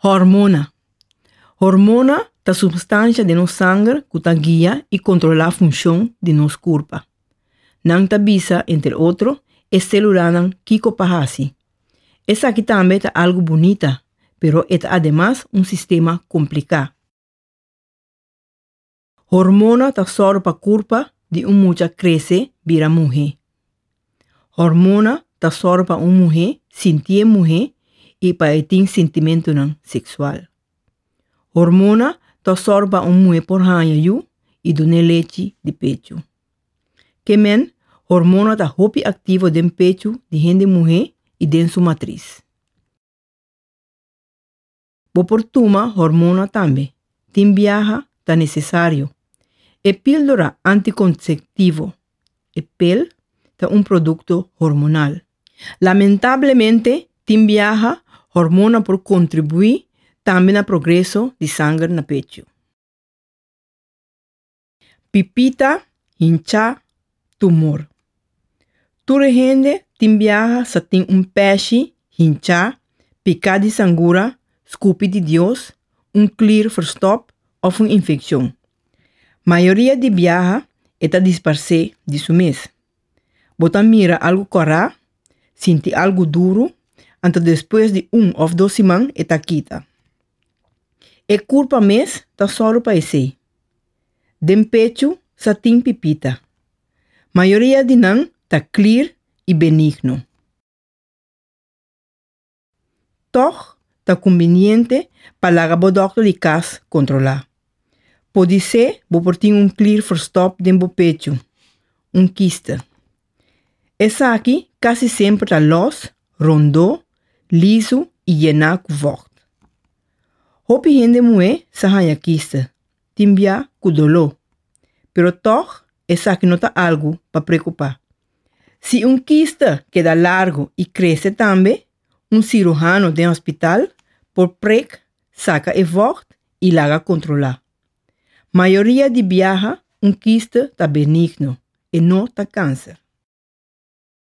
Hormona. Hormona ta substansha den nos sanger cu ta guia y controla funcion di nos curpa. Nan ta bisa, entre otro, e celulanan kico pa haci. Esaki tambe ta algo bunita, pero e ta ademas un sistema complica. Hormona ta sòru pa kurpa di un mucha krese bira muhé. Hormona ta sòru pa un muhé sintié muhé i pa e tin sintimentunan seksual. Hormona ta sòru pa un muhé por haña yu i dun'é lechi di pechu. Ke men, hormona ta hopi aktivo den pechu di hende muhé i den su matris. Bo por tuma hormona tambe. Tin biaha ta necesario. E píldora anticonceptivo, e pel, ta un producto hormonal. Lamentablemente tin biaha hormona por contribui tambe na progreso di sanger na pechu. Pipita, hinchá, tumor. Tur hende tin biaha sa tin un pèshi, hinchá, piká di sangura, skupi di Dios, un klier verstòp òf un infekshon. Mayoria di biaha e ta disparsé di su mes. Bo ta mira algu kòrá, sinti algu duru, anto despues di un òf dos siman e ta kita. E kurpa mes ta sòru pa esei. Den pechu sa tin pipita. Mayoria di nan ta klir i benigno. Tòg ta kumbiniente pa laga bo dòkter di kas kontrolá. Podisé bo por tin un klir forstòp den bo pechu, un kiste. Esaki casi semper ta los, rondó, lisu y yena cu vocht. Hopi hende muhé sa haña kister, tin bia cu doló, pero tog esaki no ta algu pa preocupa. Si un kister keda largo y crece tambe, un cirujano den hospital por prek saca e vocht y laga controla. Mayoria di biaha un kiste ta benigno, e no ta kanser.